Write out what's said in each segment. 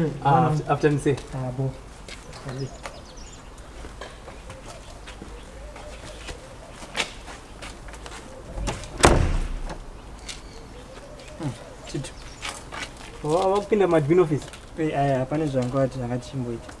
Mm, ah, after, after me say. Ah, bo. Chitu. Wawakupinda oh, madmin office? Eh, aya hapana zvanga wati zvakati chimboita.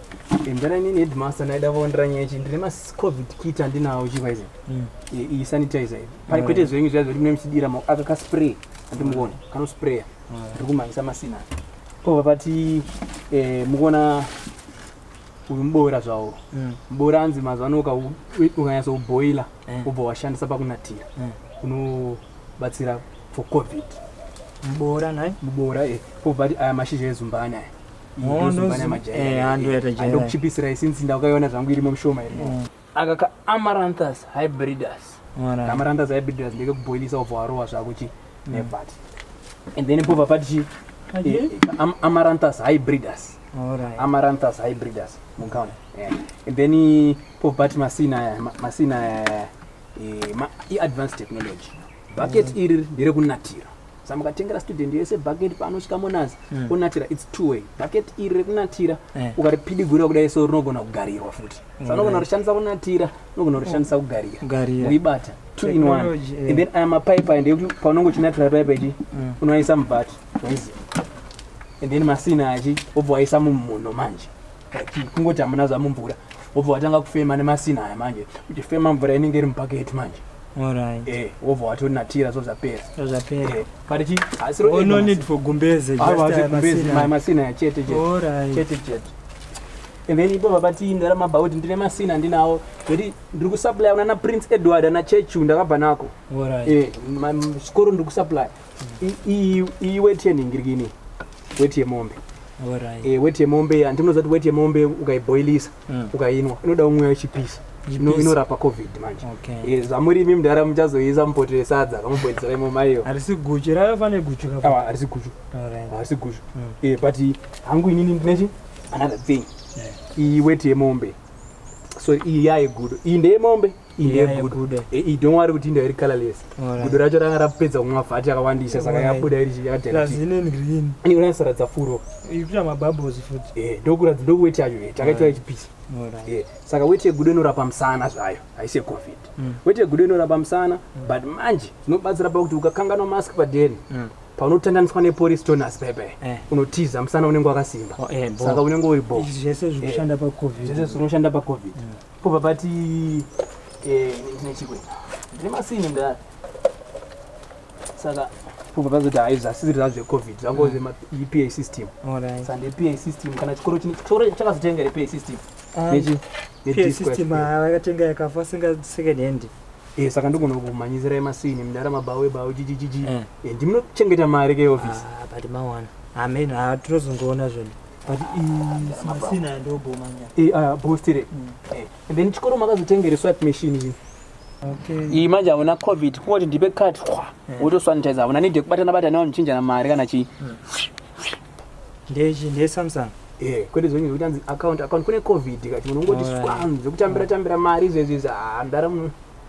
endana inini headmaster ndaida kuondera nyaya ichi ndine macovid kit andinawo chikwaizai mm. iyi sanitizer iyi pane kwete zvenyu zviya zvekuti mune muchidira aka kaspray andimuone kanospraya mm. ndiri kumhanyisa masina pova pati eh, mukuona uyu muboora zvawo mm. muboora anzi mazuva ano ukanyatsa kuboila ubva washandisa pakunatira unobatsira for covid muboora nai muboora e eh, pova pati aya mashizha ezumbani aya ndokuchipisirai since ndakaiona zvangu irimo mishoma iri mm. aka ka amaranthus hybridus amaranthus hybridus ndeke kuboilisa obva warowa zvako chi mm. nevat and then pova pati chi eh, amaranthus hybridus amaranthus hybridus mukaona and then eh, pova pati masina aya masina aya eh, iadvanced technology bucket mm. iri nderekunatira Saka mukatengera student yese bucket paanosvika monas mm. onatira its two way bucket iri rekunatira yeah. ukaripidigura kudai so rinogona kugarirwa futi mm. sa unogona kurishandisa kunatira unogona kurishandisa oh. kugarira uibata two in one yeah. and then aya mapaipa ende ekuti paunenge uchinatira paipa ichi mm. unoaisa mubhati oizi and then masina achi obva waisa mumhuno manje kungoti hamuna zvamumvura obva watanga kufema nemasina aya manje uchifema mvura inenge iri mubhaketi manje Alright. Eh, wobva watonatira so zvapera. So zvapera. Eh, pari chi? Asi ro. Oh, no need for gumbeze. Ah, just uh, gumbeze. My masina ya chete chete. Alright. Chete chete. And then ipo baba tii ndara mabva kuti ndine masina ndinawo. Zviri ndiri ku supply una na Prince Edward ana Chechu ndakabva nako. Alright. Eh, skoro ndiri ku supply. Mm. I i i wet yening ngiri kini. Wet yemombe. Alright. Eh, wet yemombe andinoza kuti wet yemombe ukaiboilisa. mm. ukainwa inoda umwe wechipisa inorapa covid manje eh, zvamuri imi mudhara muchazoisa mupoto resadza kamubhoidzira imo maiyo harisi guchu raafane guchu harisi guchu harisi guchu mm. eh, but hangu inini ndinechi another thing iyi weti yemombe so iyi yaigudo iyi ndeyemombe yeah. Iye gudo. Eh, eh, don't worry kuti inda iri colorless. Gudo racho ranga rapedza kumwa fat yakawandisa saka yabuda iri yakati. Plus ine green. Ini una sara dzafuro. Ikuta ma bubbles futi. Eh, ndokura dzindo weight yacho eh takaita ichi piece. Eh, saka weight yegudo inorapa musana zvayo. Haise covid. Mm. Weight yegudo inorapa musana mm. but manje zvinobatsira pakuti ukakanganwa mask padeni. Mm. paunotandaniswa nepolice toners pepe eh. unotiza musana unenge wakasimba oh, eh, saka unenge uri bo zvese zvinoshanda pacovid Kubva pati eh, ndine chikwe ndine masini ndari saka kubva pazoti hai zvasisiri zvangu zvecovid zvangu zvepa mm. system sande pa system kana chikoro chikoro chakazotenga repa system ah. nechi pa system ah, vakatenga yakafa singa second hand Eh, saka ndogona kumhanyisira emasini mdara mabawe bawe chichichichi eh. eh, ndimunochengeta mari keofisi ah, but mawana ameno ah, tinozongoona zvona but masina ndobomanya eh ah bostire mm. eh and then chikoro makazotengere swipe machine iyi Okay. Iyi manje hauna covid kungoti ndipe cut kwa mm. wotosanitizer hauna need yekubatana batana wamuchinjana mari kana chii mm. ndechi ndesamsung eh kwete zvenyu zvekuti anzi account account kune covid kati munhu ungoti swanzi zvekutambira tambira mari izvezvi izvi handara ah,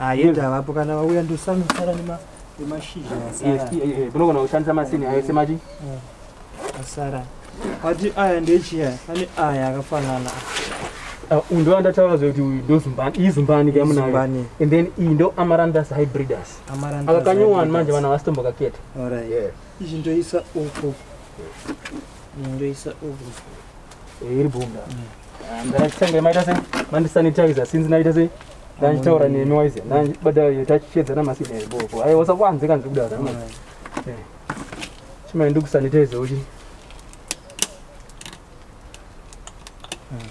Ayenda ah, vapo kana vauya ndosanosara nema nemashizha asara. Kunogona kushandisa masini ayo semachi. Eh, asara. Ati aya ndechiya ane aya akafanana. Uh, ndo andataura zvekuti uyu ndo zumbani iyi zumbani ke amunayo and then iyi ndo amarandus hybridus aka kanyowani manje vana vasitombokaketa izvi ndoisa uku ndoisa uku eh, iri bunda mm. ndanditaura nemi waize ndandibadara tachishedzana masinheri boko ayi wasakwanze kanzi kudara eh. chimai ndikusanitize uchi hmm.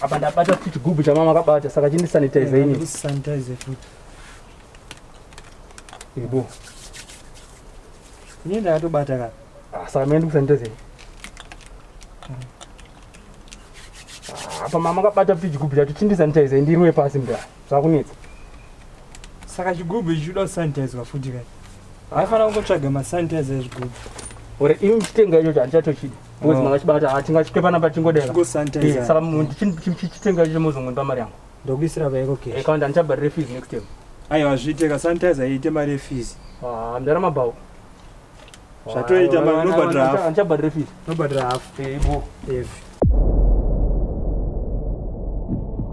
apa ndabata futi chigubhu chamama akabata saka chindisanitize ini ibo ini ndakatobata ka ah, saka mene ndikusanitize hmm. Ah, apa mama akabata kuti chigubhu chacho chindisanitizer ndirwe pasi mda zvakunetsa saka chigubhu ichi chinoda kusanitizwa futi kai haifanira kungotsvaga masanitizer ezvigubhu or ini ndichitenga ichocho handichatochidi because Oh. manga chibata ah, tingachike panapa tingodera Kusanitizer. Eh, saka mu- ndichi- ndichi- ndichitenga ichocho mozongondipa mari yangu ndokuisira vaiko Eh, cash kawanda handichabharire fees next time aiwa zviite kasanitizer iite mari yefizi Ah, mdara mabhawo zvatoita mama unobhadhira half anichabhadhira fees unobhadhira half eibo yes